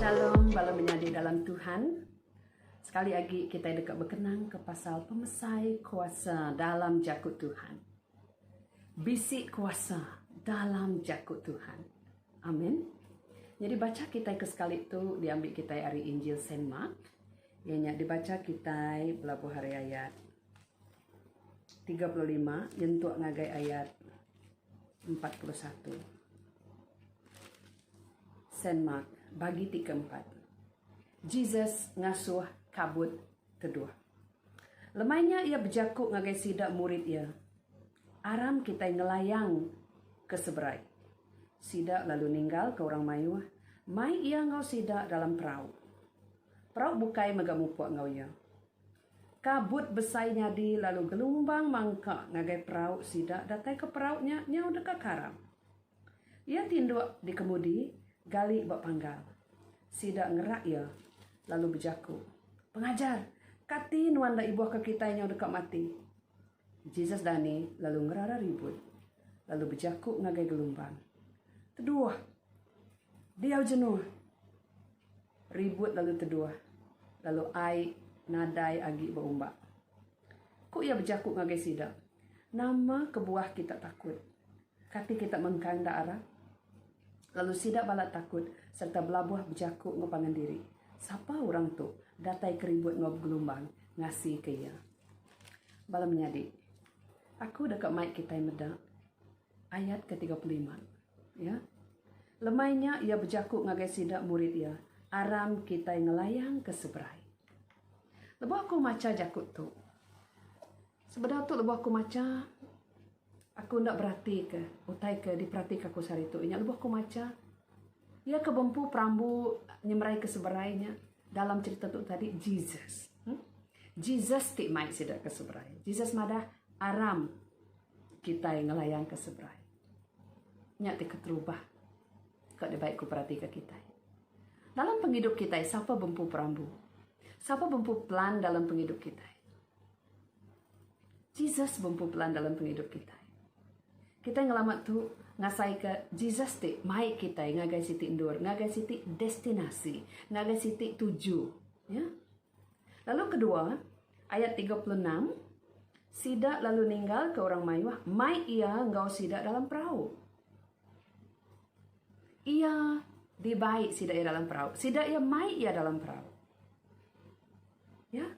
Shalom bala menyadi dalam Tuhan. Sekali agi kitai deka bekenangka pasal pemesai kuasa dalam jaku Tuhan. Bisi kuasa dalam jaku Tuhan. Amin. Nyadi bacha kitai ke sekali tu diambi kitai ari Injil Saint Mark. Iya nya dibacha kitai pelabuh hari ayat tiga puluh lima nyentuk ngagai ayat empat puluh satu. Saint Mark bagi ti keempat. Jesus ngasuh kabut teduh. Lemai nya iya bejaku ngagai sida murid iya, Aram kitai ngelayang ke seberai. Sida lalu ninggalka orang mayuh, mai iya enggau sida dalam perau. Perau bukai mega mupuk enggau iya. Kabut besai nyadi lalu gelumbang mangka ngagai perau sida datai ke perau nya nyau deka karam. Iya tinduk di kemudi, gali ba panggal. Sida ngerak iya lalu bejaku, Pengajar, kati nuan enda ibuhka kitai nyau deka mati? Jesus dani lalu ngerara ribut, lalu bejaku ngagai gelumbang, Teduh! Diau jenuh! Ribut lalu teduh, lalu ai nadai agi beumbak. Ku iya bejaku ngagai sida, Nama kebuah kita takut? Kati kita mengkang enda arap? Lalu sida balat takut sereta belabuh bejaku enggau pangan diri, Sapa orang tu datai ke ribut enggau begelumbang ngasika iya? Bala menyadi, aku deka mai kitai meda. Ayat ke tiga puluh lima. Ya. Lemai nya iya bejaku ngagai sida murid iya, Aram kitai ngelayang ke seberai. Lebuh aku macha jaku tu, sebedau tu lebuh aku macha, aku enda beratika utai ke diperatika aku sehari tu. Inya lebuh aku macha, iya ke bempu perambu nyemerai ke seberai nya dalam cherita tu tadi Jesus. Jesus ti mai sida ke seberai. Jesus madah, Aram. Kitai ngelayanka seberai. Nya ti keterubah ka dibai ku peratika kitai. Dalam pengidup kitai sapa bempu perambu? Sapa bempu pelan dalam pengidup kitai? Jesus bempu pelan dalam pengidup kitai. Kitai ngelamat tu ngasaika Jesus ti mai kitai ngagai siti endur, ngagai siti destinasi, ngagai siti tuju, ya. Lalu kedua, ayat tiga puluh enam, Sida lalu ninggalka orang mayuh, mai iya enggau sida dalam perau. Iya dibai sida iya dalam perau. Sida iya mai iya dalam perau. Ya?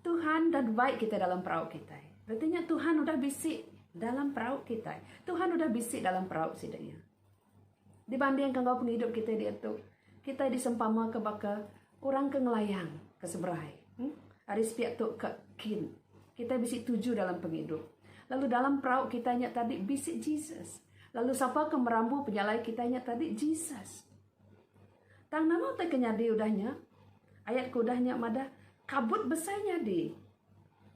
Tuhan dah dibai kita dalam perau kita. Artinya Tuhan udah bisi dalam perau kita. Tuhan udah bisi dalam perau sida iya. Dibandingka enggau pengidup kitai diatu, kitai disempamaka baka orang ke ngelayang ke seberai. Ari sepiak tu ka kin, kitai bisi tuju dalam pengidup. Lalu dalam perau kitai nya tadi bisi Jesus. Lalu sapa ke merambu pejalai kitai nya tadi? Jesus. Tang nama utai ke nyadi udah nya? Ayat ke udah nya madah, Kabut besai nyadi,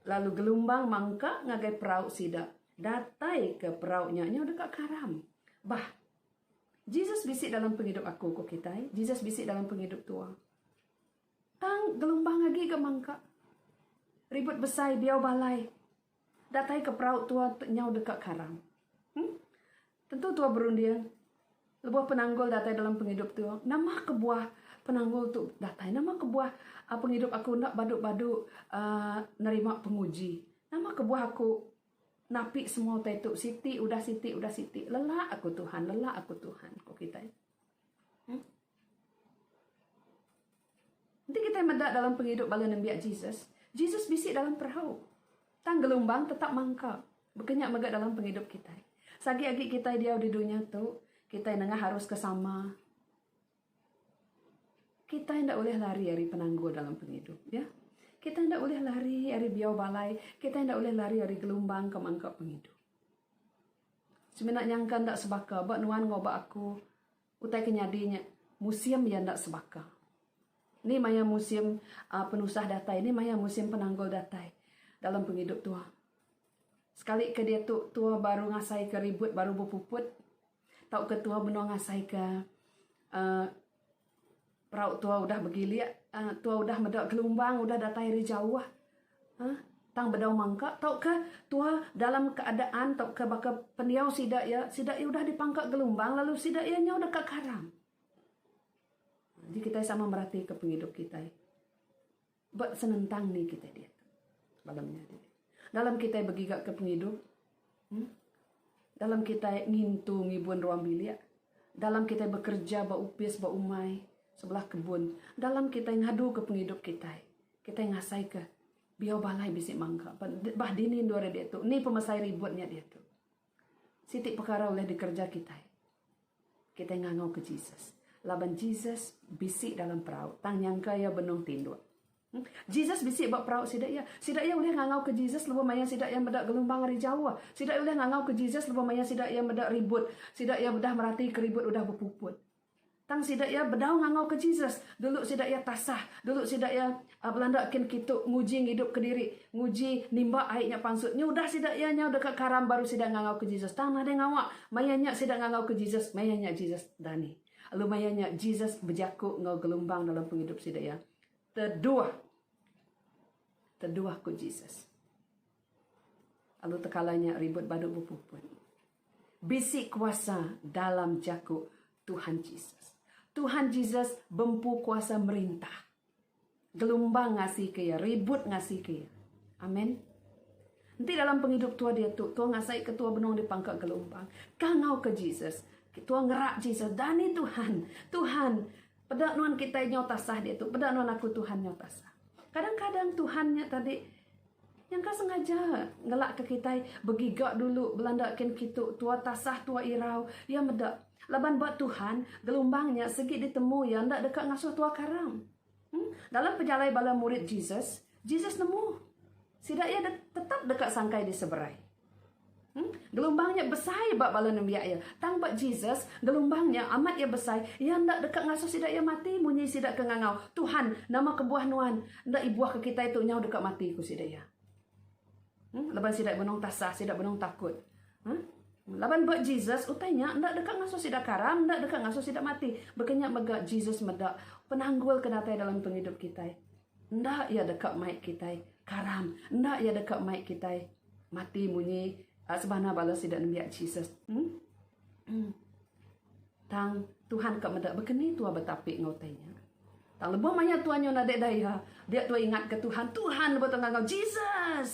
lalu gelumbang mangka ngagai perau sida. Datai ke perau nya nyau deka karam. Bah. Jesus bisi dalam pengidup aku, ku kitai. Jesus bisi dalam pengidup tua. Tang gelumbang agi ga mangka. Ribut besai, biau balai. Datai ke perau tua nyau deka karam. Hm. Tentu tua berunding lebuh penanggul datai dalam pengidup tu. Nama kebuah penanggul tu datai? Nama kebuah pengidup aku enda badu-badu uhh nerima penguji? Nama kebuah aku napi semua utai tu siti udah siti udah siti? Lelak aku Tuhan, lelak aku Tuhan, ku kitai. Uhh. Enti kitai meda dalam pengidup bala nembiak Jesus, Jesus bisi dalam perau. Tang gelumbang tetap mangka. Baka nya mega dalam pengidup kitai. Sagi agi kitai diau di dunya tu, kitai nengah arus ke sama. Kitai enda ulih lari ari penanggul dalam pengidup. Ya. Kitai enda ulih lari ari biau balai. Kitai enda ulih lari ari gelumbang ke mangka pengidup. Semina nyangka enda sebaka ba nuan ngubah aku Utai ke nyadi nya musim iya enda sebaka. Ni maya musim penusah datai, ni maya musim penanggul datai dalam pengidup tua. Sekali ke diatu tua baru ngasai ke ribut baru bepuput tauka tua benung ngasai ke uhh Perau tua udah begilik, tua udah meda gelumbang udah datai ari jauh. Huh tang bedau mangka tauka tua dalam keadaan tauka baka pendiau sida iya, sida iya udah dipangka gelumbang lalu sida iya nyau deka karam. Jadi kitai sama meratika pengidup kitai. Ba senentang ni kitai diatu bala menyadi dalam kitai begigaka pengidup, uhh dalam kitai ngintu ngibun ruang bilik, dalam kitai bekerja ba opis ba umai sebelah kebun, dalam kitai ngaduka pengidup kitai, kitai ngasaika biau balai bisi mangga. Ba dini endur diatu, ni pemesai ribut nya diatu. Siti pekara ulih dikereja kitai. Kitai ngangauka Jesus. Laban Jesus bisi dalam perau tang nyangka iya benung tinduk. Jesus bisi ba perau sida iya. Sida iya ulih ngangauka Jesus lebuh maya sida iya meda gelumbang ari jauh. Sida iya ulih ngangauka Jesus lebuh maya sida iya meda ribut. Sida iya udah meratika ribut udah bepuput. Tang sida iya bedau ngangauka Jesus, dulu sida iya tasah, dulu sida iya belanda kin kitu nguji ngidupka diri, nguji nimba ai nya pansut. Nya udah sida iya nyau deka karam baru sida ngangauka Jesus. Tang nadai ngawa, maya nya sida ngangauka Jesus, maya nya Jesus dani. Lalu maya nya Jesus bejaku enggau gelumbang dalam pengidup sida iya. Teduh. Teduh ku Jesus. Lalu tekala nya ribut badu bepuput. Bisi kuasa dalam jaku Tuhan Jesus. Tuhan Jesus bempu kuasa merintah. Gelumbang ngasika iya, ribut ngasika iya. Amen. Enti dalam pengidup tua diatu, tua ngasaika tua benung di pangka gelumbang. Kangauka Jesus. Tua ngerak Jesus, dani Tuhan. Tuhan, peda nuan kitai nyau tasah diatu, peda nuan aku Tuhan nyau tasah. Kadang-kadang Tuhan nya tadi Nyangka sengaja ngelakka kitai begiga dulu belanda kin kitu tua tasah tua irau iya meda laban ba Tuhan gelumbang nya sigi ditemu iya enda deka ngasuh tua karam. Em dalam pejalai bala murid Jesus, Jesus nemu sida iya tetap deka sangkai diseberai. Gelumbang nya besai ba bala nembiak iya. Tang ba Jesus, gelumbang nya amat iya besai, iya enda deka ngasuh sida iya mati munyi sida ke ngangau, Tuhan, nama kebuah Nuan enda ibuhka kitai tu nyau deka mati? ku sida iya. Laban sida benung tasah, sida benung takut. Laban ba Jesus, utai nya enda deka ngasuh sida karam, enda deka ngasuh sida mati. Baka nya mega Jesus meda penanggul ke datai dalam pengidup kitai. Enda iya deka mai kitai karam. Enda iya deka mai kitai mati munyi sebana bala sida nembiak Jesus. Tang Tuhan ka meda bekeni tua betapi enggau utai nya. Tang lebuh maya tua nyun nadai da iya, dia tua ingatka Tuhan, Tuhan lebuh tua ngagau Jesus.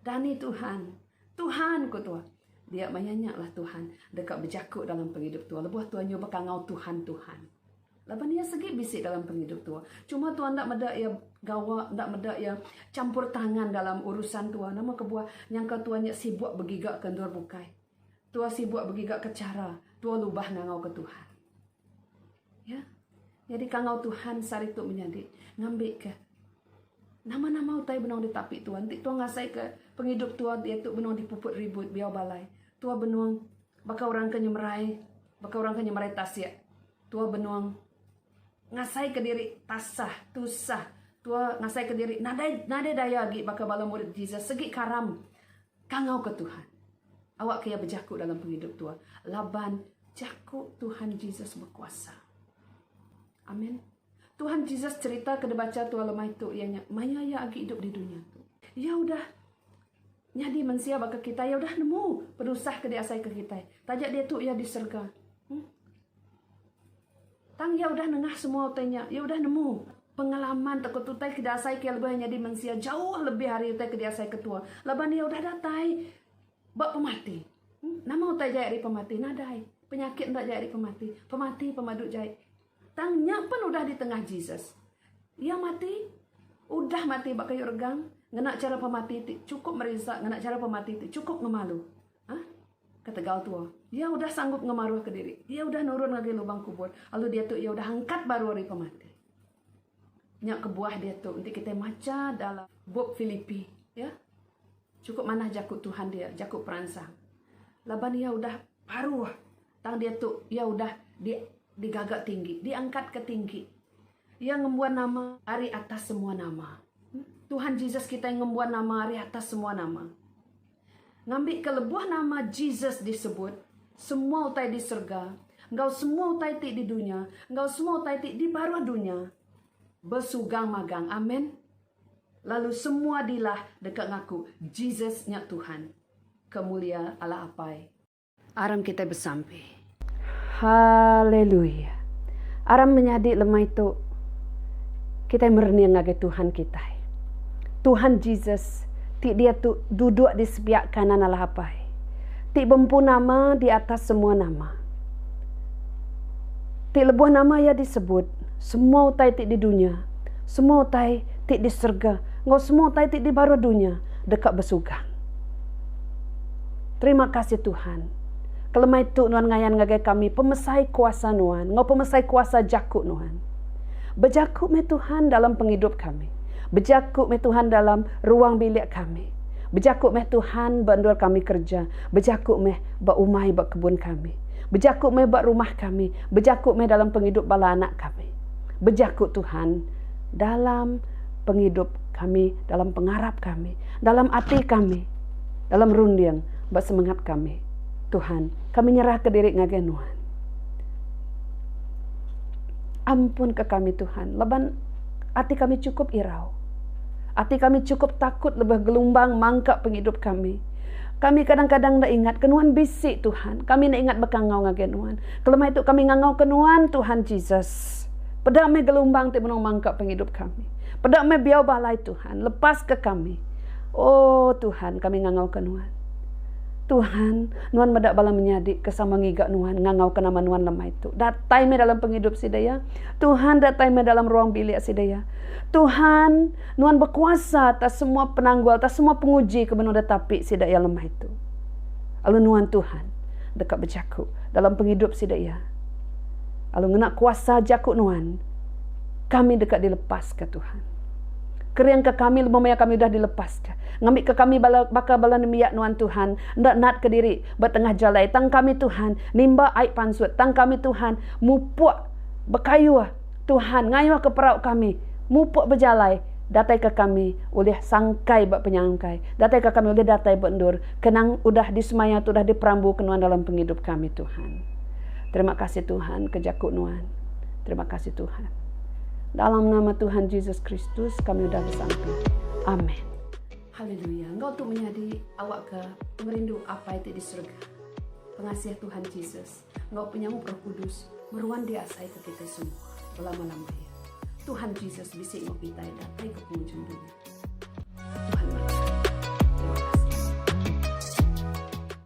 Dani Tuhan. Tuhan ku tua. Dia maya nya lah Tuhan deka bejaku dalam pengidup tua lebuh tua nyuh beka ngau Tuhan, Tuhan. Laban iya segi bisi dalam pengidup tua. Cuma tua enda meda iya gawa, enda meda iya champur tangan dalam urusan tua. Nama kebuah nyangka tua nya sibuk begiga ke endur bukai. Tua sibuk begiga ke chara tua lubah ngangau ke Tuhan. Ya. Nyadi kangau Tuhan sehari tu menyadi ngambi ke nama-nama utai benung ditapi tua. Enti tua ngasai ke pengidup tua iaitu benung dipuput ribut biau balai. Tua benung baka orang ke nyemerai. Baka orang ke nyemerai tasik, tua benung ngasaika diri tasah, tusah. Tua ngasaika diri nadai nadai daya agi baka bala murid Jesus segi karam kangauka Tuhan. Awakka iya bejaku dalam pengidup tua laban jaku Tuhan Jesus bekuasa. Amen. Tuhan Jesus cerita ke dibacha tua lemai tu iya nya maya iya agi idup di dunya tu. Iya udah Nyadi mensia baka kitai iya udah nemu penusah ke diasaika kitai, taja diatu iya di serega. Em. Tang iya udah nengah semua utai nya, iya udah nemu pengalaman tauka utai ke diasaika iya lebuh iya nyadi mensia jauh lebih ari utai ke diasaika tua laban iya udah datai ba pemati. Em. Nama utai jai ari pemati? Nadai. Penyakit enda jai ari pemati. Pemati pemadu jai. Tang nya pen udah di tengah Jesus. Iya mati, udah mati ba kayu regang ngena chara pemati ti chukup merisa, ngena chara pemati ti chukup ngemalu. Ha? Ketegal tua. Iya udah sanggup ngemaruh ke diri. Iya udah nurun ngagai lubang kubur. Lalu dia tu iya udah angkat baru ari pemati. Nya kebuah dia tu enti kita macha dalam bup Filipi, ya. Chukup manah jaku Tuhan dia, jaku peransang. Laban iya udah baruh Tang diatu iya udah di digaga tinggi, diangkat ke tinggi. Iya ngembuan nama ari atas semua nama. Tuhan Jesus kitai ngembuan nama ari atas semua nama. Ngambi ke lebuh nama Jesus disebut, semua utai di serga, enggau semua utai ti di dunya, enggau semua utai ti di baruh dunya, besugang magang. Amen. Lalu semua dilah deka ngaku Jesus nya Tuhan. Kemulia Allah Apai. Aram kitai besampi. Haleluia. Aram menyadi lemai tu kitai merening ngagai Tuhan kitai. Tuhan Jesus ti diatu duduk di sebiak kanan Allah Apai, ti bempu nama di atas semua nama. Ti lebuh nama iya disebut, semua utai ti di dunya, semua utai ti di serega enggau semua utai ti di baruh dunya deka besugang. Terima kasih Tuhan. Kelemai tu nuan ngayan ngagai kami pemesai kuasa nuan enggau pemesai kuasa jaku nuan. Bejaku meh Tuhan dalam pengidup kami. Bejaku meh Tuhan dalam ruang bilik kami. Bejaku meh Tuhan ba endur kami kereja. Bejaku meh ba umai ba kebun kami. Bejaku meh ba rumah kami. Bejaku meh dalam pengidup bala anak kami. Bejaku Tuhan dalam pengidup kami, dalam pengarap kami, dalam ati kami. Dalam runding ba semengat kami, Tuhan, kami nyerahka diri ngagai Nuan. Ampunka kami, Tuhan, laban ati kami chukup irau. Ati kami chukup takut lebuh gelumbang mangka pengidup kami. Kami kadang-kadang enda ingat ke Nuan bisi, Tuhan. Kami enda ingat baka ngau ngagai Nuan. Kelemai tu kami ngangauka Nuan, Tuhan Jesus. Peda meh gelumbang ti benung mangka pengidup kami. Peda meh biau balai, Tuhan. Lepaska kami. O Tuhan, kami ngangauka Nuan. Tuhan, Nuan meda bala menyadi ke sama ngiga Nuan ngangauka nama Nuan lemai tu. Datai meh dalam pengidup sida iya. Tuhan, datai meh dalam ruang bilik sida iya. Tuhan, Nuan bekuasa atas semua penanggul, atas semua penguji ke benung ditapi sida iya lemai tu. Lalu Nuan, Tuhan, deka bejaku dalam pengidup sida iya. Lalu ngena kuasa jaku Nuan, kami deka dilepaska, Tuhan. Keringka kami lebuh maya kami udah dilepaska. Ngambika kami bala baka bala nembiak nuan Tuhan, enda natka diri ba tengah jalai, tang kami Tuhan nimba ai pansut, tang kami Tuhan mupuk bekayuh, Tuhan ngayuhka perau kami mupuk bejalai, dataika kami ulih sangkai ba penyangkai, dataika kami ulih datai ba endur ke nang udah disemaya tu udah diperambuka nuan dalam pengidup kami Tuhan. Terima kasih Tuhan ke jaku nuan. Terima kasih Tuhan. Dalam nama Tuhan Jesus Kristus kami udah besampi. Amen. Haleluya. Enggau tu menyadi awak ke merindu apa itu di surga. Pengasih Tuhan Jesus. Enggau penyamuk roh kudus. Meruan di asai ke kita semua. Berlama-lama ya. Tuhan Jesus bisa mau kita datai ke pengunjung dunia. Tuhan berkata.